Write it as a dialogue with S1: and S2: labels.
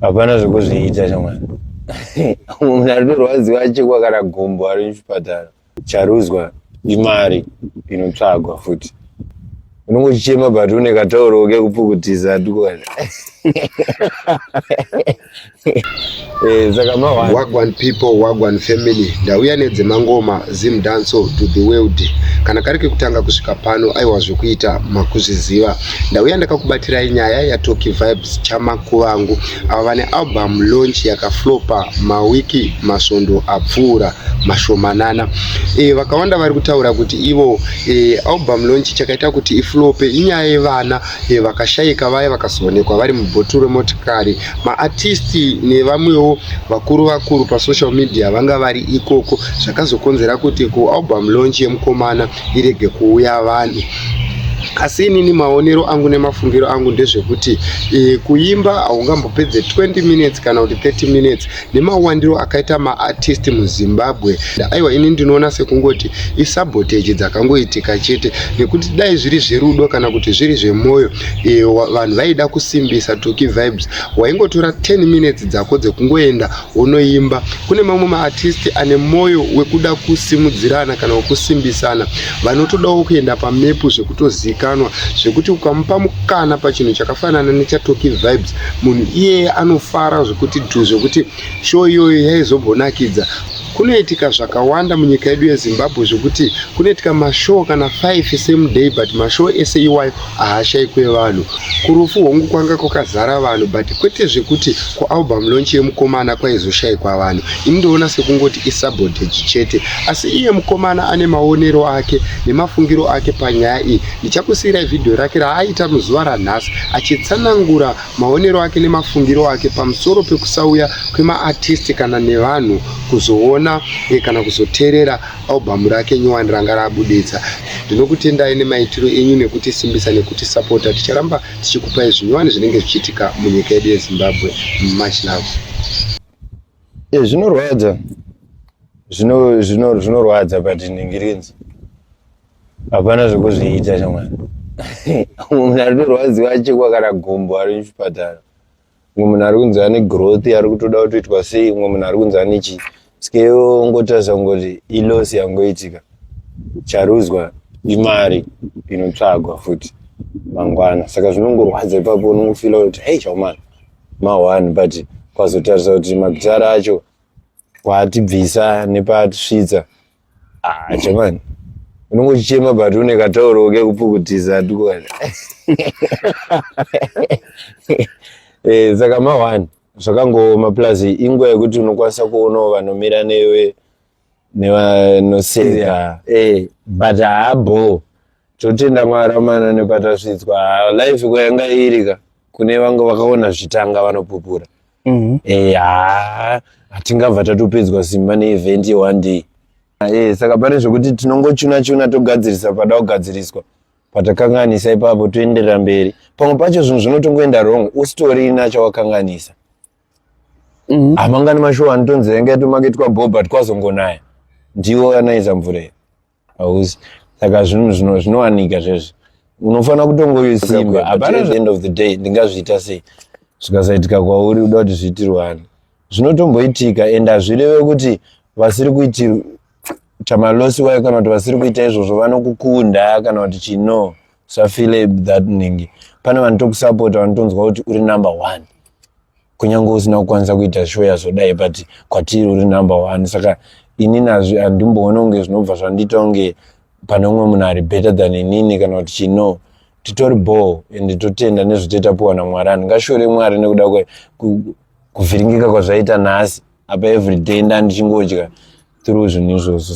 S1: hapana zvekuzviita shamwari munhu aritorwadziwa chekwa kana gumbo ari muchipatara charuzwa imari inotsvagwa futi unenge uchichema but une katauro kekupukutiza tukwana
S2: eh, saka mawagwan people wagwan family ndauya nedzemangoma zim danso to the world kana kari kekutanga kusvika pano aiwa zvekuita makuzviziva Ndauya ndakakubatirai nyaya yaToki Vibes Chamakuvangu avo vane album launch yakaflopa mawiki masvondo apfuura mashomanana. E, vakawanda vari kutaura kuti ivo e, album launch chakaita kuti iflope inyaya yevana e, vakashaika vaya vakazoonekwa vari mubhotoro remotikari. Maartisti nevamwewo vakuru vakuru pasocial media vanga vari ikoko zvakazokonzera kuti kualbum launch yemukomana irege kuuya vanhu asi inini maonero angu nemafungiro angu ndezvekuti e, kuimba haungambopedze 20 minutes kana kuti 30 minutes nemawandiro akaita maartist muzimbabwe aiwa ini ndinoona sekungoti isabotage dzakangoitika chete nekuti dai zviri zverudo kana kuti zviri zvemwoyo e, vanhu vaida kusimbisa toki vibes waingotora 10 minutes dzako dzekungoenda unoimba kune mamwe maartisti ane mwoyo wekuda kusimudzirana kana wekusimbisana vanotodawo kuenda pamepu zvekutozikanwa zvekuti ukamupa mukana pachinhu chakafanana nechatoki vibes munhu iyeye anofara zvekuti dhu zvekuti show iyoyo yaizombonakidza kunoitika zvakawanda munyika yedu yezimbabwe zvekuti kunoitika mashow kana 5 same day but mashow ese iwayo haashaikwe vanhu kurufu hongu kwanga kwakazara vanhu but kwete zvekuti kualbum launch yemukomana kwaizoshaikwa vanhu ini ndoona sekungoti isabotage chete asi iye mukomana ane maonero ake nemafungiro ake panyaya iyi ndichakusiirai vhidhiyo rake raaita muzuva ranhasi achitsanangura maonero ake nemafungiro ake pamusoro pekusauya kwemaartisti kana nevanhu kuzoona eh, kana kuzoteerera Album rake nyowani ranga rabuditsa. Ndinokutendai nemaitiro enyu nekutisimbisa nekutisapota. Ticharamba tichikupai zvinyowani zvinenge zvichiitika munyika yedu yeZimbabwe. Much love. Yeah, zvinorwadza
S1: zvino zvino zvinorwadza but ndingirinzi hapana zvekuzviita shamwari munhu aritorwadziwa achekwa kana gumbo ari muchipatara umwe munhu ari kunzi ane growth ari kutoda kutoitwa sei umwe munhu ari kunzi ane chii skeyo ongotarisa kungoti ilosi yangoitika charuzwa imari inotsvagwa futi mangwana saka zvinongorwadza ipapo unongofila kuti hei chaumana mahwani but kwazotarisa kuti magitara acho kwatibvisa nepatisvitsa ah chamani unongochema but une katauro kekupukutisa tukwana eh, saka mahwani zvakangooma plus inguva yekuti unokwanisa kuonawo vanomira newe nevanoseka eh, but haabhoo totenda mwari amana nepatasvitswa life kwayanga irika kune vange vakaona zvitanga vanopupura mm-hmm. eh, haa hatingabva tatopedzwa simba neevent yeone day ah, eh, saka pane zvekuti tinongochuna chuna togadzirisa pada kugadziriswa patakanganisa ipapo toenderera mberi pamwe pacho zvinhu zvinotongoenda wrong usitorina chawakanganisa mm-hmm. hamangani mashuwa anotonzi yanga yatomaketwa bho but kwazongonaya ndiwo anaiza mvura iyo hausi saka zvinhu zvino zvinowanika zvezvi unofanira kutongoisimba hapana end of the day ndingazviita sei zvikasaitika kwauri uda kuti zviitirwani zvinotomboitika and hazvireve kuti vasiri kuiti chamalosi wayo kana kuti vasiri kuita izvozvo vanokukunda kana kuti chino safile that ningi pane vanotokusapota vanotonzwa kuti uri number one kunyange usina kukwanisa kuita show yazodai but kwatiri uri number one saka ini nazvi handimboona kunge zvinobva zvandiita kunge pane umwe munhu ari better than inini kana kuti chino titori ball and totenda nezvitoitapuwa namwari anhu ngashore mwari nekuda kuvhiringika kwazvaita nhasi apa everyday ndandichingotya through zvinhu izvozvo